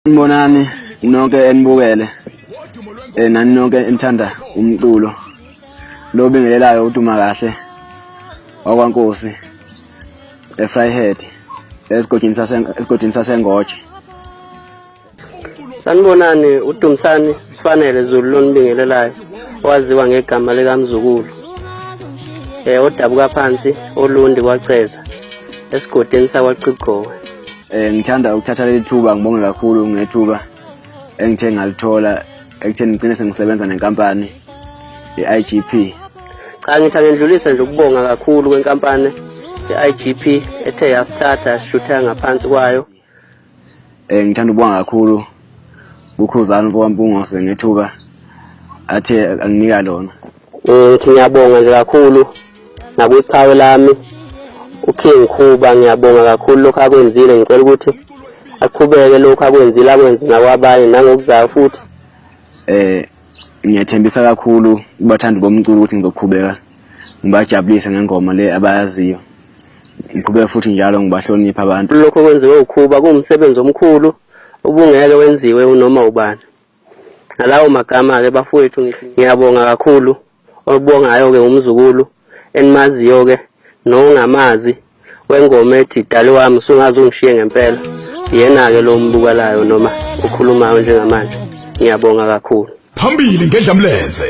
Nibonani nonke enibukele eh nani nonke enithanda umculo lo bingelelayo uduma kahle wakwankosi eFryhead esigodini sase esigodini sasengoje Sanibonani uDumsani sifanele Zulu lonibingelelayo waziwa ngegama likaMzukulu eh odabuka phansi olundi kwaceza esigodini sakwaQibgowe Eh ngithanda ukuthatha leli thuba ngibonge kakhulu ngethuba engithe ngalithola ekutheni ngigcine sengisebenza nenkampani i-IGP. Cha ngithi angindlulise nje ukubonga kakhulu kwenkampani i-IGP ethe yasithatha shutha ngaphansi kwayo. Eh ngithanda ukubonga kakhulu uKhuzani mfokaMpungose ngethuba athe anginika lona um ngithi ngiyabonga nje kakhulu nakwiqhawe lami uking khuba ngiyabonga kakhulu lokhu akwenzile ngicela ukuthi aqhubeke lokhu akwenzile akwenze nakwabanye nangokuzayo futhi um ngiyathembisa kakhulu kubathandi bomculo ukuthi ngizoqhubeka ngibajabulise ngengoma le abayaziyo ngiqhubeke futhi njalo ngibahloniphe abantu lokho kwenziwe ukhuba kuwumsebenzi omkhulu ubungeke wenziwe unoma ubani. Ngalawo magama-ke bafowethu ngithi ngiyabonga kakhulu olubongayo-ke umzukulu enimaziyo-ke nongamazi wengoma ethi dali wami sungaze ungishiye ngempela yena-ke lo mbukalayo noma okhulumayo njengamanje ngiyabonga kakhulu phambili ngedlamlenze